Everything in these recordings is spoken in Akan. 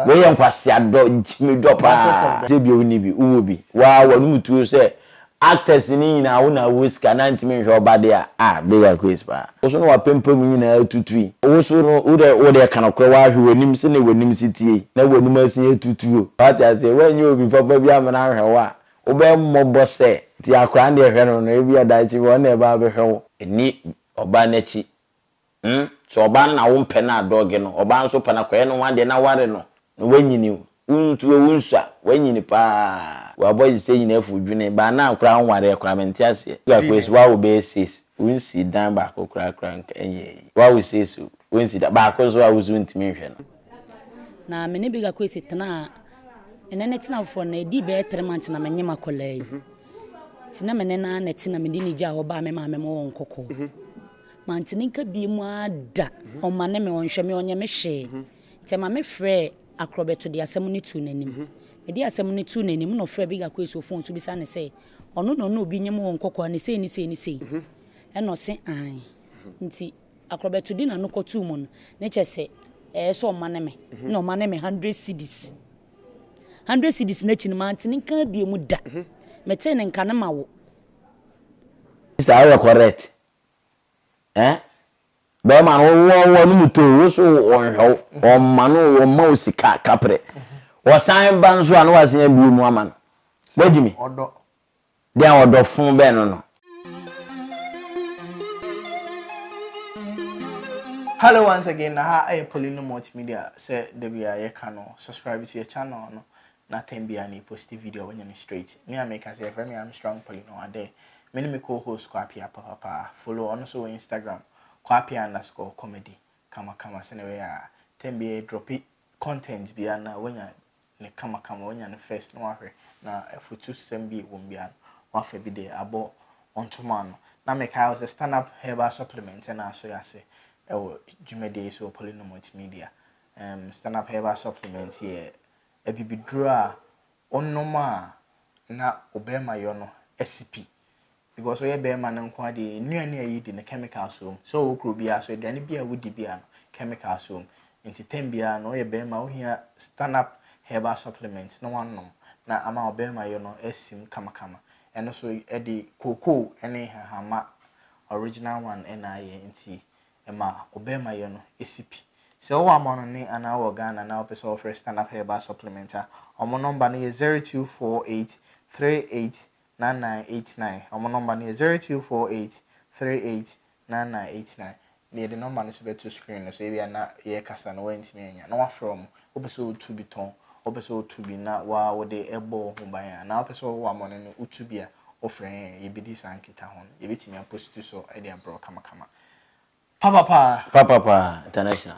Wei yɛ nkwaseadɔ nti me dɔ paa. Sɛ bi a wonni bi wowɔ bi waa w'anom tuo sɛ actors no nyinaa wo na wɔ sika na ntumi nhwɛ ɔba deɛ a ah big acquis paa. Wo so na w'apampam nyinaa atutu yi. Wo so no wo deɛ wo deɛ ka nokorɛ w'ahwɛ w'anim sɛdeɛ w'anim si teɛ yi na w'anim asin atutu o w'ate aseɛ w'anyɛ obi papa bi amena anhwɛ wo a wo bɛ mmɔbɔ sɛ nti akora no deɛ hwɛ no no ebia daakye bi ɔno na ɛbɛ abɛhwɛ wo. Nni ɔbaa no akyi Hmm sɛ ɔbaa no na wompɛ no a dɔge no, ɔbaa nso pɛ no a kɔyɛ no ho adeɛ na ware no na wanyini Wontu a wonsu a wanyini paa Wɔ boys sɛ nyinaa afu dwene baa no a koraa wonwareɛ koraa mente aseɛ Sugar Kwesi woa wobɛyɛ sis wonsii dan baako koraa koraa nka ɛnyɛ eyi woa wosiesie o wonsi da baako nso a woso wontumi nhwɛ no. Na me ne Big Akwesi tenaa ɛnɛ ne tena foforɔ no ɛdi bɛyɛ three months na menye m'akwadaa yi nti na me ne naa na ɛte na mede ne gyaa hɔ baa me maame ma wɔn kɔkɔɔ mhm. mante ne nka bie mu ada mhm. ɔma ne me ɔnhwɛ me ɔnyɛ me hwee mhm. nti ma me frɛ akorɔbɛto de asɛm no tu n'anim mede asɛm no tu n'anim na ɔfrɛ Big Akwesi wɔ fon so bisa ne sɛ ɔno na ɔne obi nyɛ mu wɔn kɔkɔɔ ne sei ne sei ne sei ɛna ɔse an nti Akorɔbɛtodi na no kɔtoo mu no, ne kyɛ sɛ ɛyɛ sɛ ɔma ne me, na ɔma ne me hundred cedis. Hundred cedis no akyi no, mante ne nka bio mu da. Metee ne nka no ma wo. Sister woyɛ correct eh bɛɛma no wo wɔ wɔ no mu too wo so wɔ nhwɛ wo wɔ ma no wɔ ma wo sika kaprɛ wɔ san ba nso a no wɔ asen abie mu ama no wɔ gyi me Dɛn ɔdɔfo bɛn no no? Hello once again na ha yɛ Polino Multimedia sɛ da biara yɛka no subscribe to yɛ channel no na time biara na yɛ posti video a wanya no straight me a meka sɛ yɛfrɛ me Armstrong Polino Ade me ne me co host Kwapea papapaa follow ɔno nso wɔ Instagram Kwapea underscore comedy kamakama sɛnea ɛbɛyɛ a time biara yɛ dropi content biara na wanya no kamakama, wanya no first na wahwɛ na afutusɛm bi wom bi a wafa bi de abɔ ntoma ano. Na mekae wo sɛ Stand-Up Herbal Supplement na aso yɛ ase wɔ dwumadie yi so wɔ Polynom Multimedia. Um, Stand-Up Herbal Supplement yɛ abibiduro a wonom a na wo bɛrima yɔ no asi pi. Because ɔyɛ bɛɛma no nkoa deɛ nnuane a yɛdi no chemicals wɔ mu. Sɛ ɔwɔ kuro biara so aduane biara a wodi biara no chemicals wɔ mu. Nti term biara no ɔyɛ bɛɛma a wohia stand up herbal supplement na wanom na ama ɔbɛɛma yɔ no asim kamakama. Ɛno so ɛde cocoa ɛne nhahamma original one na ayɛ nti ɛma ɔbɛɛma yɔ no si pi. Sɛ wowɔ amanɔne anaa wowɔ Ghana na wopɛ sɛ wofrɛ stand up herbal supplement a wɔn number no yɛ zero two four eight three eight 9989. Wɔn nɔmba no yɛ zero two four eight three eight nine nine eight nine. Yɛde nɔmba no nso bɛto screen no so, ebia na yɛrekasa na woantumi annya na woafrɛ wɔn. Wopɛ sɛ wotu bi tɔn, wopɛ sɛ wotu bi na wo ara wode bɔ wo ho ban a, anaa wopɛ sɛ wowɔ amɔne no wotu bi a, wofrɛ yɛn a, yebedi saa nkitaho no. Yebetumi apositu so de abrɛ wo kamakama. Papapaa! Papapaa International,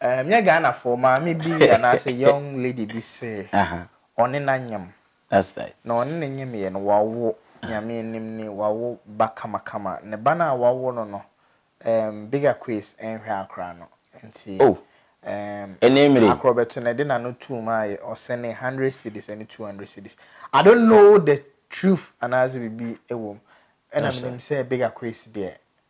Ɛnyɛ Ghanafoɔ, maame bi anaasɛ young lady bi se ɔne no anyem, na ɔne no nyemeeɛ no, wawo, Nyame anim ni, wawo ba kamakama. Ne ba no a wawo no no, ɛɛm, Big Akwes nhwɛ akora no, nti, ɛɛm, Akorɔbɛto na ɛde n'ano too mu a ɔsɛnee hundred cedis ne two hundred cedis. I don't know the truth anaasɛ biribi wɔ mu, ɛna menim sɛ Big Akwes deɛ,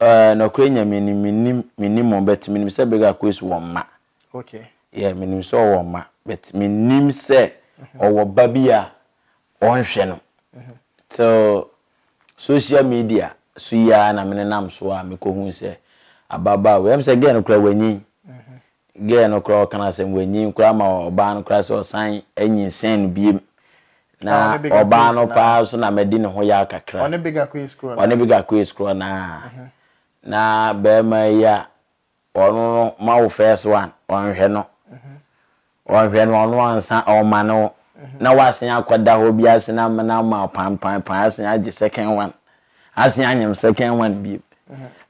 Eh, nɔkorɛ Nyame nim, menim, menim mo, but menim sɛ Big Aquays wɔ mma. Okay. Yeah, menim sɛ ɔwɔ mma, but menim sɛ mhm. ɔwɔ ba bi a ɔnhwɛ no. Mhm. Till social media so yi ara na menenam so a mekɔhu sɛ ababaa wei, ɛm sɛ gɛɛ no kora wanyin. Mhm. Girl no koraa ɔka no asɛm wanyin koraa ma ɔbaa no koraa sɛ ɔsan anyinsɛn no biom na ɔbaa no paa so na madi ne ho yaw kakra ɔne big akoes korɔ no ɔne big akoes korɔ no aa na bɛɛma yi a ɔno no ma wo first one ɔnhwɛ no ɔnhwɛ no ɔno ansa ɔma no na wasen akɔda hɔ bi asen amena ama pampan pan asen agye second one Asen anyem second one bi.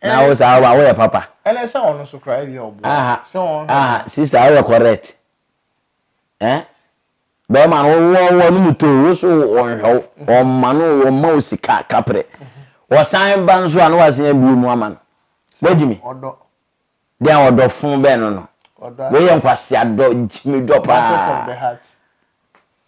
Na wo saa wa woyɛ papa. Ɛnɛ sɛ ɔno so kora ebi ɔboa. Aha. Sɛ ɔno. Aha sister woyɛ correct. Eh? Bɛrima no wɔ wɔ no mu to wo so ɔnhwɛ wo. Ɔmma no ɔmma wo sika kaprɛ. Wɔsan ba nso a na wasen abie mu ama no. Wagyi mi. Ɔdɔ. Deɛ ɔdɔ fo bɛn no no. Ɔdɔ. Wei yɛ nkwasea dɔ gyimi dɔ paa. Matters of the heart.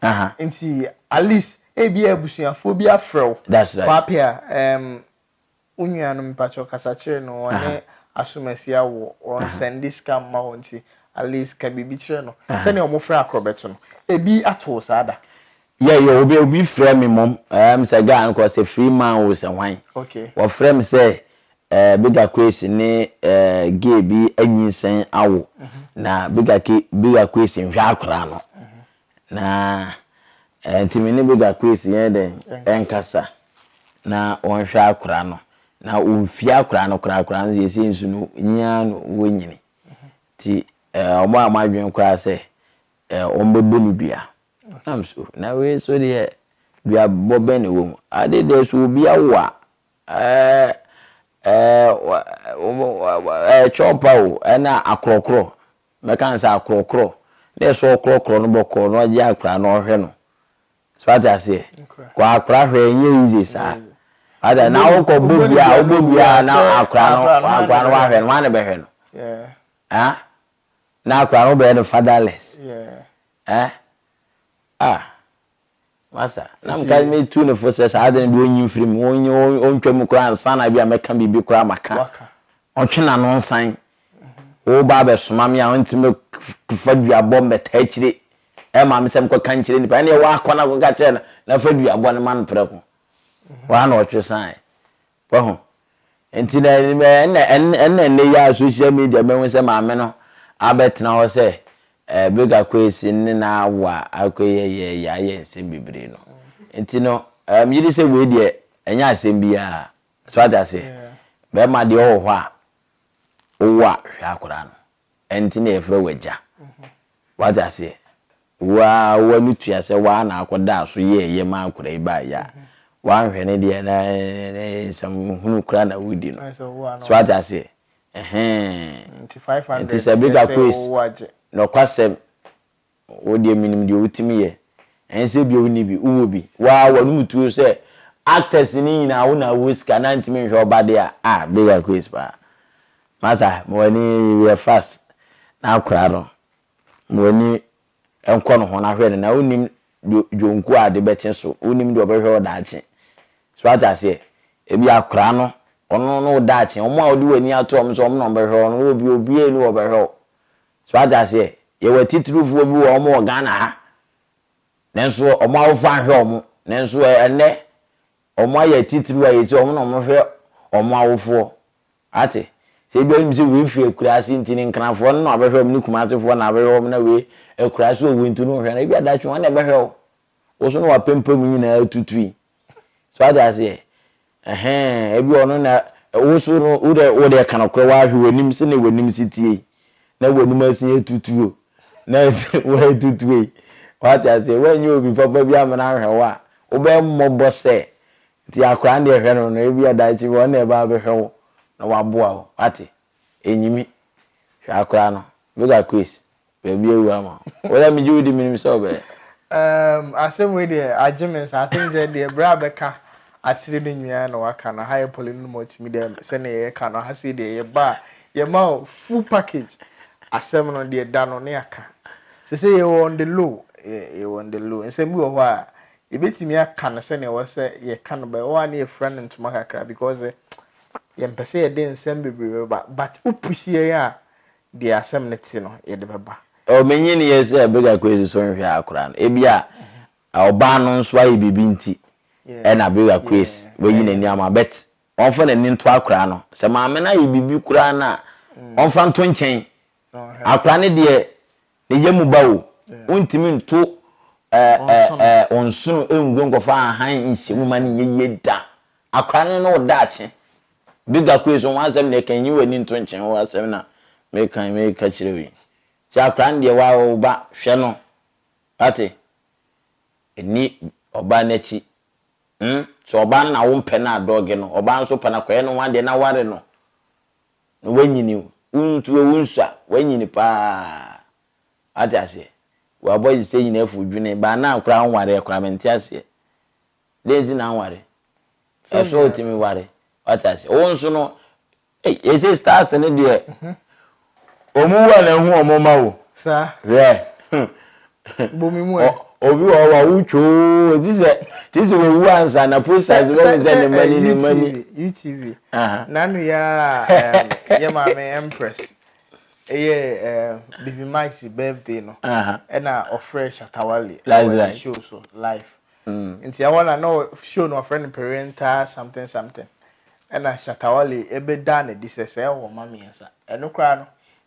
Aha. Nti at least ebi a abusuafoɔ bi afrɛ wo. That's right. Kwapea um, wo nua no mpakyɛw kasa kyerɛ no ɔne asomasi awo ɔnsɛnde sika mma hɔ nti at least ka biribi kyerɛ no sɛnea wɔfrɛ akorɔbɛto no ebi ato wo saa da. Yeah, yeah, obi obi frɛ me mmom um, sɛ guy no kɔ sɛ free man o sɛ hwan Okay. wɔfrɛ me sɛ eh, Bigga Kwesi ne eh, gay bi anyinsɛn awo na Bigga Ke- Bigga Kwesi nhwɛ akwadaa no Na ɛnti me ne Bega Kwesi yɛnyɛ dɛn? Yɛnkasa na wɔnhwɛ akora no. Na wɔmfie akora no koraa koraa no seesei nso no nyin ara no wɔnyini. Nti wɔn a wɔn adwene koraa sɛ wɔbɛbɔ no dua. Nam so na wei nso deɛ duabɔ bɛn na ɛwɔ mu? Ade deɛ sɛ obi awo a Kyɔpa o, nna akrɔkrɔ, mɛka no sɛ akrɔkrɔ, nna sɛ ɔkrɔkrɔ no bɔkɔɔ na ɔgye akora na ɔhwɛ no, so ate aseɛ, kɔ akora hwɛ nyɛ easy saa, ate aseɛ, na wokɔ bɔ biaa wobɔ biaa na akora no akora no wahwɛ no, wane bɛhwɛ no? Haa? Na akora no wobɛyɛ no fatherless? Haa? Ah! Masa, na mekae metu no fo sɛ saa ade no deɛ ɔnyi mfiri mu, ɔnyi ɔntwa mu koraa ansa na bi a mɛka biribi koraa maka. Ɔtwe n'ano nsan. Woba abɛsoma me a ɔntumi mɛfa duabɔ mmɛta akyire ɛma me sɛ mekɔka nkyerɛ nnipa. Ɛnneɛ woakɔ na akɔka kyerɛ no na fa duabɔ no ma no prɛko. Hɔ ara na ɔtwe saeɛ. Wahu? Enti na, ɛnna, ɛnna, ɛnna nnɛyi ara social media mehu sɛ maame no abɛtena hɔ sɛ ɛɛ big akwesi ne n'awa akɔ yɛ yɛ yɛ ayɛ nsɛm bebree no. Enti no, ɛɛ megye di sɛ wei deɛ ɛnyɛ asɛm biara. So ate aseɛ? Bɛrima deɛ ɔwɔ hɔ a, wowɔ a, hwɛ akwadaa no. Ɛnti na yɛfrɛ wo Agya. Wate aseɛ? Wo ara w'ani tua sɛ wo ara na akɔdaa so yɛɛ yɛ ma akwadaa yi baa yɛ a, woanhwɛ no deɛ na nsɛm hunu koraa na woredi no. So wate aseɛ? Ɛhɛn. Nti sɛ bere kakra si, nokwasɛm, Wo deɛ menim deɛ wotumi yɛ. Ɛnsɛ bio wonni bi, wowɔ bi. Wo ara w'anom tuo sɛ actors no nyinaa wo na wɔ sika na ntumi nhwɛ wo ba deɛ a, ah big acquis paa. Masa ma w'ani yɛ fast na akwadaa no ma w'ani nkɔ ne ho na hwɛ no na wonnim deɛ dwonku a ade bɛkye so, wonnim deɛ ɔbɛhwɛ wo daakye. So wate aseɛ? Ebi akwadaa no, ɔno ne wo daakye. Wɔn a wode w'ani ato wɔn sɛ wɔn na wɔbɛhwɛ wo no, wowɔ bi obiara nni hɔ a ɔbɛhwɛ wo. So wate aseɛ? Yɛwɔ atitirifoɔ bi wɔ hɔ, wɔwɔ Ghana ha, nanso wɔn awofoɔ anhwɛ wɔn, nanso ɛ, ɛnnɛ, wɔayɛ atitiriw a ɛsɛ wɔn na wɔhwɛ wɔn awofoɔ. Wate? Sɛ ebia wonim sɛ wei fi akuraase nti, ne Nkranafoɔ no na wɔabɛhwɛ wɔn, ne Kumasefoɔ na wɔabɛhwɛ wɔn, na wei, akuraase wɔ wei nti, wonhwɛ no a, ebia daakye wɔn na ɛbɛhwɛ wo. Wo so na w'apampam nyinaa tutui. So wate aseɛ? Ɛhɛn, ebi ɔno na wo so no wo deɛ wo deɛ ka nokorɛ wahwɛ w'anim sɛdeɛ w'anim si tie yi na w'anim asin yɛ tutuo na wɔyɛ tutuo yi wate aseɛ wanyɛ obi papa bi amena ahwɛ wo a wobɛyɛ mmɔbɔ sɛ nti akora no deɛ hwɛ no no ebi adaakye bi ɔno na ɛbaa bɛhwɛ wo na waboa wo wate enyimi hwɛ akora no look at Chris Baabi awu ama wo. Wo deɛ megye wo di menim sɛ wobɛyɛ. Umm asɛm wei deɛ agye me nsa. I think sɛ deɛ berɛ a bɛka akyere no nyinaa na waka no. Ha yɛ pɔle no mu ɔtumi dɛ sɛdeɛ yɛka no ha sei deɛ yɛba a yɛma wo full package. Asɛm no deɛ da no ne aka. Seesei yɛwɔ on the low yɛwɔ on the low. Nsɛm bi wɔ hɔ a yɛbɛtumi aka no sɛdeɛ ɛwɔ sɛ yɛka no but ɛwɔ hɔ a na yɛfira no ntoma kakra because yɛmpɛ sɛ yɛde nsɛm bebree bɛba but wo push yɛn a Deɛ asɛm no te no, yɛde bɛba. Oh, menyiniiɛ sɛ Bega Kwesi so nhwɛ ha koraa no. Ebia ɔbaa no nso ayɛ biribi nti na Bega Kwesi wayi n'ani ama. But ɔmfa n'ani nto akwadaa no. Sɛ maame no ayɛ biribi koraa no a, ɔmfa nto nkyɛn. Akwadaa no deɛ, Ne yɛ mu ba o. Wontumi nto wo nsono ngu nkɔfa ahan nhyɛ mu ma no nyɛ yie da. Akora no ne wo daakye. Big Akwe so ho asɛm deɛ kan nyi w'ani nto nkyen ho asɛm na mekan meka kyerɛ wo yi. Nti akora no deɛ wa wɔ wo ba hwɛ no. Wate? Nni ɔbaa no akyi. Hmn sɛ ɔbaa no na wo mpɛ no a dɔge no. Ɔbaa nso pɛ no akɔyɛ no ho adeɛ na ware no. na w'anyini o, wo ntu o, wo nsu a, w'anyini paa. W'ate aseɛ? W'abɔdze sɛ nyina afu dwene, baa naa koraa wonwareɛ koraa, mente aseɛ. Dɛn nti na wonware? Ɛso wo tumi ware, w'ate aseɛ? Wo nso no, ei, yɛse stars no deɛ, wɔn wu a na ehu wɔn mma o, hwɛ, bɔ me mu ɛ. Obi wɔ hɔ ma wo twoo ti sɛ ti sɛ wawu ansa na posters bɛ mi sɛ ne ma ni ne ma ni. UTV nanu ya yɛ maame empress ɛyɛ baby Mike's birthday no ɛna ɔfrɛ Shatawale ɛwɔ ne show so live nti ɛhɔ na na show no ɔfrɛ no parental something something ɛna Shatawale ɛbɛ da na di sɛ sɛ ɛwɔ ma mmiɛnsa ɛno koraa no.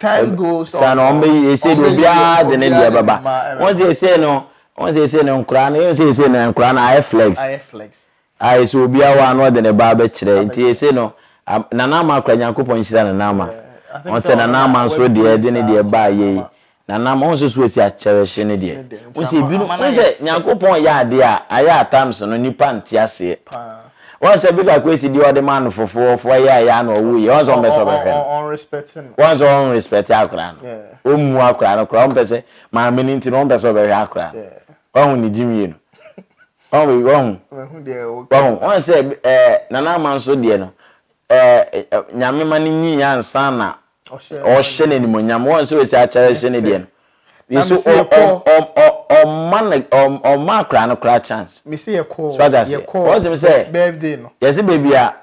Saa no wɔn bɛyi ese de obiara de ne deɛ bɛba wɔn sɛ ese no wɔn sɛ ese no nkora no yɛn sɛ ese no nkora no ayɛ flex a ese obiara wa no ɔde ne ba abɛkyerɛ nti ese no nana ama akora nyankopɔn nhyira nana ama wɔn sɛ nana ama nso deɛ de ne deɛ ba yɛ yi Na nam ho nso so asi akyɛrɛhye ne deɛ. Wohu sɛ ebinom, wohu sɛ Nyankopɔn yɛ adeɛ a, ayɛ a times no nnipa nte aseɛ. Woahu sɛ Bishop Kwesi deɛ ɔde maa no fofoɔ, foɔ yɛ a ɛyɛ a na ɔwɔ yie, woahu sɛ ɔmpɛ sɛ ɔbɛhwɛ no. Woahu sɛ ɔnrespect akwadaa no, ɔmmu akwadaa no koraa, ɔmpɛ sɛ, maame no nti no, ɔmpɛ sɛ ɔbɛhwɛ akwadaa no. Woahu ne gyimie no? Wahu, wahu, wahu. Woahu sɛ ɛɛ Nana Ama nso deɛ no, ɛɛ Nyame ma no nyiiɛ ansa na ɔhyɛ no animonyam wɔn sɛ wɔsi akyɛrɛ hyɛ ne deɛ no nso ɔma akora no kora chance wɔgyem sɛ yɛse baabi a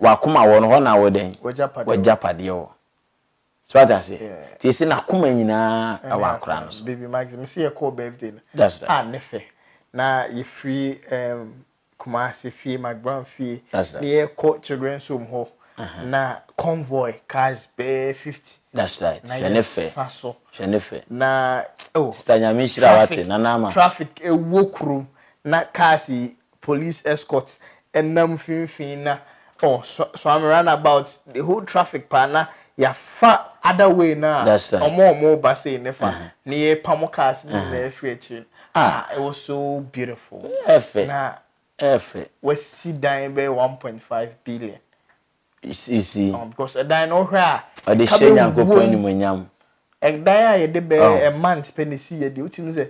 wakoma wɔ no hɔ na wɔdɛn wɔgyapadeɛ wɔ so ate aseɛ nti ɛsɛ n'akoma nyinaa ɛwɔ akora no so baby max me sɛ yɛkɔɔ birthday no a ne fɛ na yɛfiri Kumasi fie, Magban fie, na yɛkɔ Children's Home hɔ, na convoy cars bɛyɛ fifty na yɛsa so, na oh, traffic, traffic ɛwɔ kurom, na cars yi, police escort ɛnam mfimfini na Oh so so I'm run about the whole traffic paa na ya fa other way no a That's right. ɔmo a ɔmo reba sei ne fa Uh-huh. ne yɛ pamo cars ne Uh-huh. nyinaa firi akyire no Ah. ah it was so beautiful Ɛfɛ. na Ɛfɛ. wasi dan bɛyɛ one point five billion You see, you see. oh because ɛdan no wohwɛ a Ɔde ɛka hyɛ bɛwuo Nyankopɔn mu animuonyam. ɛdan a yɛde bɛyɛ Oh. a month pɛ na esi yɛ deɛ wotumi sɛ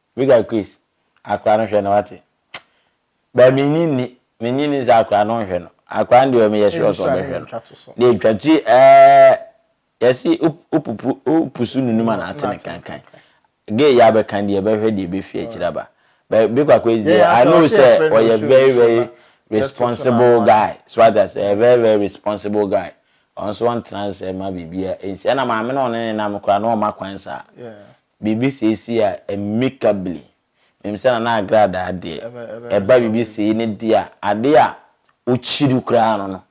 Vicar Chris, akora no hwɛ no wate. But me nyi nni, me nyi nni sɛ akora no nhwɛ no. Akora no deɛ meyɛ sure sɛ ɔbɛhwɛ no. Deɛ twa ti ɛɛ, yɛse wopupu, wopusu nunu ma no atene kankan. Gay yi abɛka deɛ ɛbɛhwɛ deɛ ɛbɛfi akyiri aba. But Vicar Chris deɛ, I know sɛ ɔyɛ very very responsible guy. So wate aseɛ, ɔyɛ very very responsible guy. Ɔno nso ɔntena ase mma biribiara nsi. Ɛna maame no a ɔne no nam koraa no ɔmma kwan saa. Biribi sei si a, amicably, menim sɛ Nana Agradaa deɛ, ɛba biribi sei no deɛ a, adeɛ a ɔkyiri koraa no no,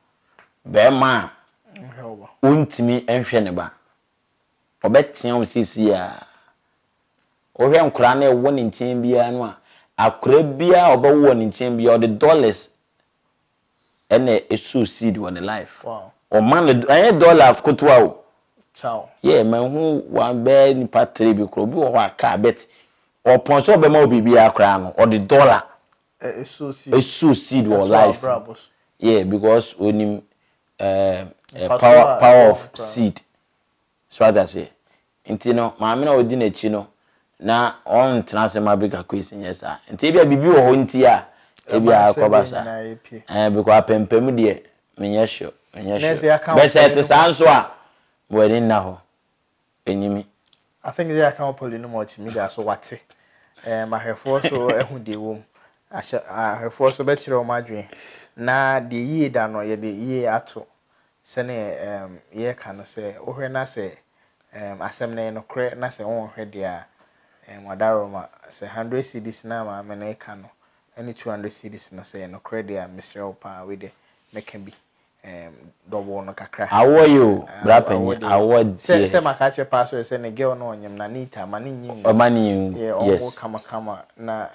barima a ɔntumi nhwɛ ne ba, ɔbɛtea wo seesei ara. Wohwɛ nkwadaa no a ɛwɔ ne nkyɛn biara no a, akwadaa biara a ɔbɛwo wɔ ne nkyɛn biara, ɔde dollars ɛna ɛsoo seed wɔ ne life ɔma no ɛnyɛ dollars kotoa o yɛ ma hu wa bɛɛ nipa three bi korɔ obi wɔ hɔ a kaa bet ɔpɔn sɛ ɔbɛma wo biribiara koraa no ɔde dollar ɛsoo seed wɔ life yeah because onim uh, uh, power, power of seed So wate aseɛ? Nti no, maame no a ɔdi n'akyi no, na ɔntena ase mma Baker Quays nyɛ saa. Nti ebia biribi wɔ hɔ nti a ebia akɔba saa. Ɛɛ, because apampam deɛ, menyɛ sure, menyɛ sure. Bɛ sɛ ɛte saa nso a, mewɔ ani nna hɔ. Ɛnyi me. I think sɛ yɛaka wɔ Poly no mu a ɔtumi da so wate. Ɛɛ, ma ahwɛfoɔ nso ahu deɛ ɛwɔ mu. Ahyɛ, ahwɛfoɔ nso bɛkyerɛ wɔn adwene. Na deɛ yie da no, yɛde yie ato. Sɛnea yɛka no, sɛ wohwɛ na sɛ asɛm no yɛ nokorɛ na sɛ wonhwɛ deɛ a, wɔadaworoma. Sɛ hundred cedis no a maame no reka no ne two hundred cedis no, sɛ ɛyɛ nokorɛ deɛ a, mesrɛ wo pa ara, wei deɛ mɛka bi double no kakra. Awoɔ ye o, bra panyin, awoɔ deɛ. Sɛ maka akyerɛ pa ara so deɛ, sɛ ne girl no ɔnyem na neat a, ma no nyi ngu. Ɔma no nyi ngu, yes. Yɛ ɔnwo kamakama na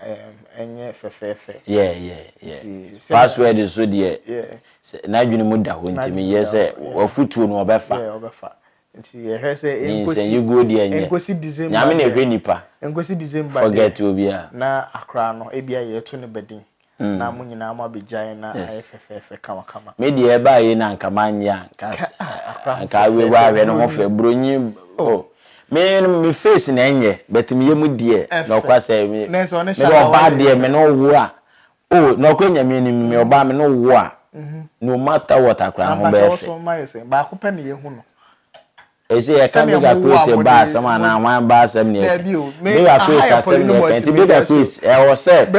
ɛnyɛ fɛfɛɛfɛ. Yeah, yeah, yeah. Password nso deɛ, Sɛ n'adwene mu da hɔ nti, meyɛ sɛ w'afotuo no ɔbɛfa. Nyinsɛnyiguo deɛ nyɛ Nyame na ɛhwɛ nnipa, forget obiara. Yes. Me deɛ ɛbaa yei na anka manyɛ a, anka awe hɔ ahwɛ ne ho fɛ, bronyi oh. Me no me face na ɛnyɛ but me yam deɛ nɔkwasɛm, me deɛ ɔbaa deɛ me ne wo wo a, O, nɔkorɛ Nyame nim, me ɔbaa me ne wo wo a, no matter what akora ho bɛyɛ fɛ. Ɛsɛ yɛka Bega Chris ba asɛm anaa hwan ba asɛm na yɛka? Bega Chris asɛm na yɛka, nti Bega Chris ɛwɔ sɛ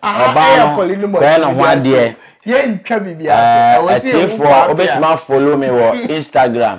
ɔbaa no kɔyɛ ne ho adeɛ. Ɛɛ, atiefoɔ wobɛtumi a follow me wɔ Instagram,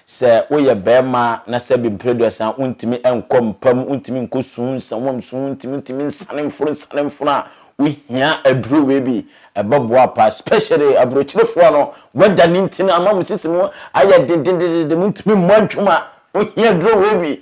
Sɛ woyɛ barima na sɛbi mprɛduasa wontumi nkɔ mpa mu, wontumi nkɔ su, nsawam su, wontumi ntumi nsane mforo nsane mforo a, wohia aduro wei bi. Ɛbɛboa paa especially aburokyerefoɔ no, weather no nti no ama mo sisi mu ayɛ den den den den montumi mmɔ adwuma, wohia aduro wei bi.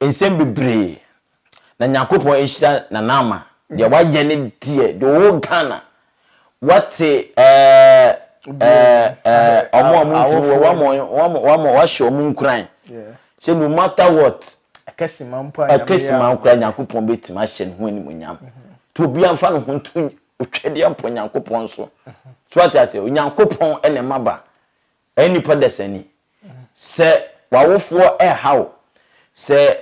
Nsɛm bebree na Nyankopɔn ahyira Nana Ama deɛ wayɛ ne deɛ the whole Ghana wate ɛɛ ɛɛ ɔmo a ɔmo ntumi wɔ wama ɔmo wama wahyɛ ɔmo nkuran sɛ no matter what ɛkɛsima mpo a ɛkɛsima mpo a Nyankopɔn bɛtumi ahyɛ ne ho animuonyam to obi anfa ne ho nto otwadeɛ mpo Nyankopɔn so so ate aseɛ Onyankopɔn ɛna ɛma ba Ɛyɛ nnipa dasani. Sɛ w'awofoɔ reha wo, sɛ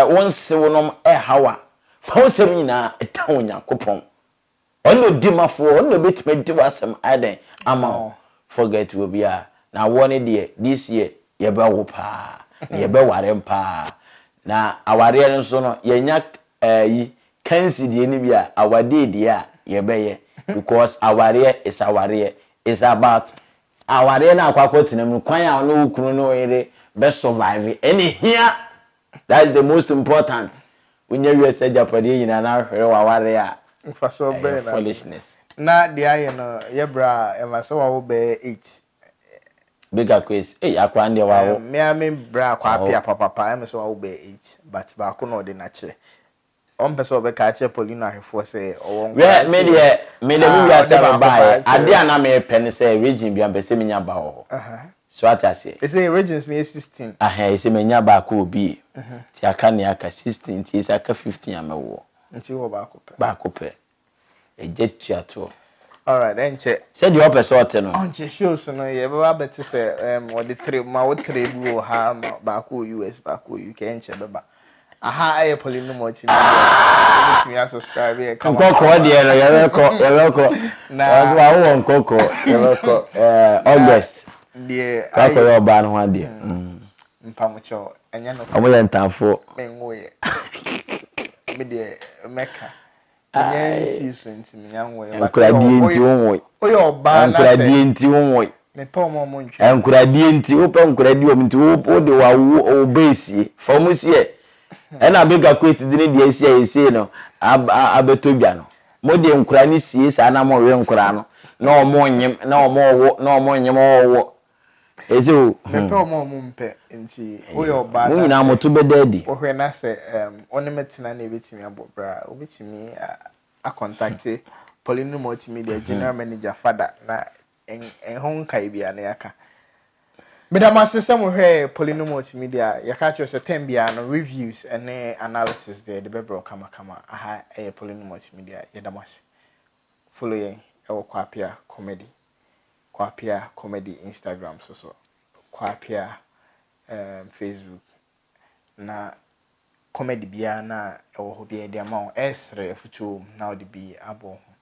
wo nsewonom reha wo a, fa wo nsɛm nyinaa tan Onyankopɔn. Ɔno na ɔdi mafoɔ, ɔno na ɔbɛtumi adi w'asɛm ayɛ dɛn ama wo. Forget obiara. Na awoɔ no deɛ, this year yɛbɛwo paa, na yɛbɛware paa. Na awareɛ no nso no, yɛnya ayi, kansi deɛ no bi a, awadeɛ deɛ a yɛbɛyɛ. Because awareɛ is awareɛ. It's about Awareɛ no a wakɔ akɔtena mu no, kwan a ɔne wo kunu ne wo yere bɛ survive ɛna ɛhia. That's the most important. Wonya wiase agyapadeɛ nyinaa na wohwere w'awareɛ a, ɛyɛ foolishness. Na deɛ ayɛ no yɛ berɛ a ɛma sɛ wawo bɛyɛ eight. Bigger Kwesi, ei akoa no deɛ wawo. Me ara me brɛ akoa pea papapa ɛma sɛ wawo bɛyɛ eight but baako na ɔde no akyɛ. Ɔmpɛ sɛ ɔbɛka akyerɛ Paulina ahwɛfoɔ sɛ ɔwɔ nkwadaa nso o. Me deɛ, me deɛ me wiase a me baeɛ, adeɛ a na mepɛ ne sɛ Regine biara mepɛ sɛ menya ba wɔ hɔ. So wate aseɛ? Ɛsei Regines no yɛ sixteen. Ahaa, ɛsei manya baako wɔ BA. Nti aka nea aka, sixteen, nti ɛsei aka fifteen a mɛwoɔ. Nti wowɔ baako pɛ? Baako pɛ. Egya tua toɔ. Alright ɛnkyɛ. Sɛdeɛ ɔpɛ sɛ ɔte no. Ɔnkyɛ shows no yɛbɛba abɛte sɛ ɛɛm wɔde three ma wo three bi wɔ ha ma baako wɔ US baako wɔ UK ɛnkyɛ ɛbɛba. Aha ɛyɛ Polynom Multimedia wobɛtumi a subscribe yɛ kama. Nkɔkɔɔ deɛ no yɛbɛkɔ yɛbɛkɔ. Na. Ɔsɛ wawo wɔ nkɔkɔɔ yɛbɛkɔ ɛɛ August. Na deɛ ayɛ. Kɔ akɔyɛ ɔbaa no ho adeɛ. Mpamokyɛw ɛnyɛ nokorɛ. Wɔyɛ ntanfoɔ. Menwoeɛ. Me deɛ mɛka. Ankoradeɛ nti wo nwoe. Ankoradeɛ nti wo nwoe. Ankoradeɛ nti wo pɛ nkoradeɛ wɔn nti wo de wa wo wo bɛ esie fa wɔn si ɛ. Ɛna abeka kwesi de ne deɛ esi a esie no ab abɛtɔ dwa no mo de nkora ne sie saa na mo we nkora no na wɔn nyem na wɔn wo na wɔn nyem wɔn wo Ese o hmm. Mepɛ wɔn a wɔn mpɛ nti woyɛ ɔbaa na. Mo nyinaa mo to bɛda adi. Wohwɛ na sɛ ɛm ɔne me tena na ebetumi abɔ bra obetumi akɔntakte Pauline Multimedia hmm. general manager fada na ɛho nkae biara na yɛaka. Meda mo ase sɛ mohwɛɛ Pauline Multimedia yɛka kyerɛ sɛ tɛm biara no reviews ne analysis deɛ yɛde bɛbrɛ kamakama aha ɛyɛ Pauline Multimedia yɛda mo ase. Follow yɛn ɛwɔ Kwapea Comedy. Kwapea Comedy Instagram so so Kwapea um Facebook na comedy biara no a ɛwɔ hɔ biara yɛde ama wo ɛresrɛ afutuo wɔ mu na wode bi abɔ wo ho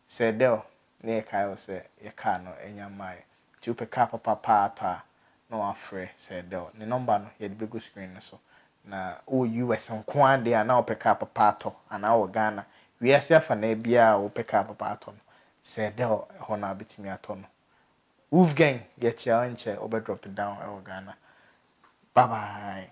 Sɛ Dell na yɛkae wo sɛ yɛ car no anya mmaeɛ nti wopɛ car papa paa atɔ a na wafrɛ Sɛ Dell ne number no yɛde bɛgu screen no so na wowɔ US nko ara deɛ a na wopɛ car papa atɔ anaa wowɔ Ghana wiase afanaa biara a wopɛ car papa atɔ no Sɛ ɛda hɔ no a bɛtumi atɔ no. Wofgang yɛkyea wo nkyɛ wobɛ drop down wɔ Ghana bye bye.